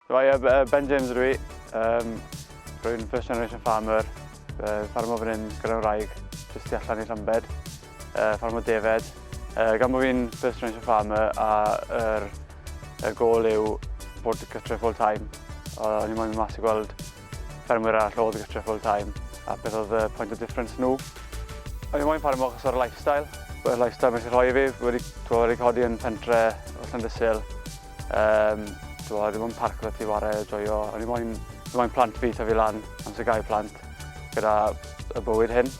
Hi, yy b- yy Ben James ydw i. Yym rwy'n first generation farmer. Yy ffarmo fan hyn gyda'n wraig, jyst tu allan i Llambed. Yy ffarmo defaid. Yy gan bo fi'n first generation farmer a yr y gôl yw bod gytre full time. Yy o'n i moyn mynd mas i gweld ffermwyr arall oedd gytre full time a beth oedd y point of difference nhw. O'n i moyn ffarmo achos o'r lifestyle. Y lifestyle mae eisiau rhoi i fi. Wedi, t'mo' wedi codi yn pentre o Llandysul. Yym, do, dim ond parc gyda ti ware a joio. O'n i moyn, fi moyn plant fi tyfu lan, amser gael plant, gyda y bywyd hyn.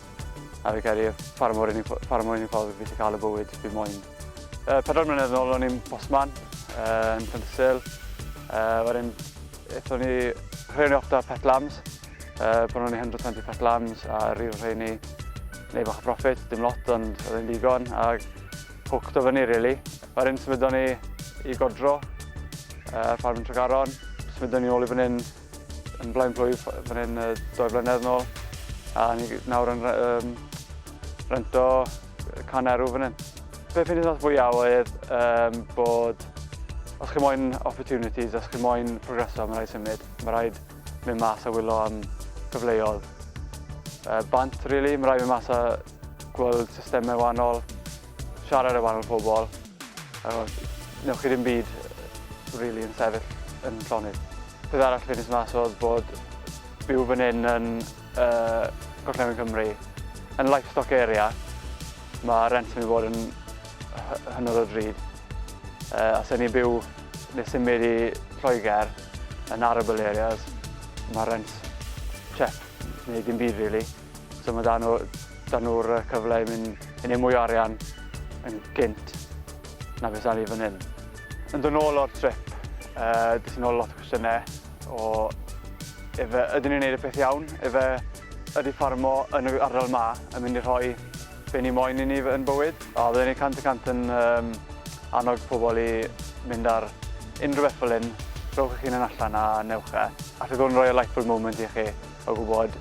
A fi credu, fara mor unig, fara mor unig ffordd fi wedi cael y bywyd fi moyn. Uh, pedwar mlynedd yn ôl o'n i'n bosman uh, yn Llyntysil. Uh, wedyn, eithon ni rheini off da pet lambs. Uh, Bron o'n i 120 pet lambs a rhyw rheini neu bach o profit, dim lot ond oedd e'n ddigon. A Hooked o fyny rili. Yr un symudon ni i godro ar uh, ffarm Tregaron. Symudon ni ôl i fan hyn yn blaen plwyf fan hyn uh, doi blynedd yn ôl. A ni nawr yn um, rento can erw fan hyn. Be fi'n ddiddorol fwyaf oedd um, bod os chi moyn opportunities, os chi moyn progreso, mae rhaid symud. Mae rhaid mynd mas a wylo am gyfleoedd. Uh, bant, really, mae rhaid mynd mas a gweld systemau wahanol, siarad â wahanol pobl, a newch chi ddim byd really yn sefyll yn llonydd. Peth arall fi'n mas oedd bod byw fan hyn yn uh, Gorllewin Cymru, yn livestock area, mae rent yn bod yn hynod o drud. Uh, os ni'n byw neu symud i Lloegr yn arable areas, mae rent chep neu dim byd really. So mae dan nhw, dan nhw'r yy, cyfle i mynd i neud mwy o arian yn gynt na beth dan ni fan hyn. Yn dod nôl o'r trip, yy, des i nôl lot o cwestiynau o efe ydyn ni'n neud y peth iawn, efe ydy ffarmo yn y ardal ma yn mynd i rhoi be ni moyn i ni f- yn bywyd. A bydden ni cant y cant yn yym, annog pobl i mynd ar unrhyw beth fel hyn, rhowch eich hunan allan a newch e. Alle hwn roi y light bulb moment i chi o gwybod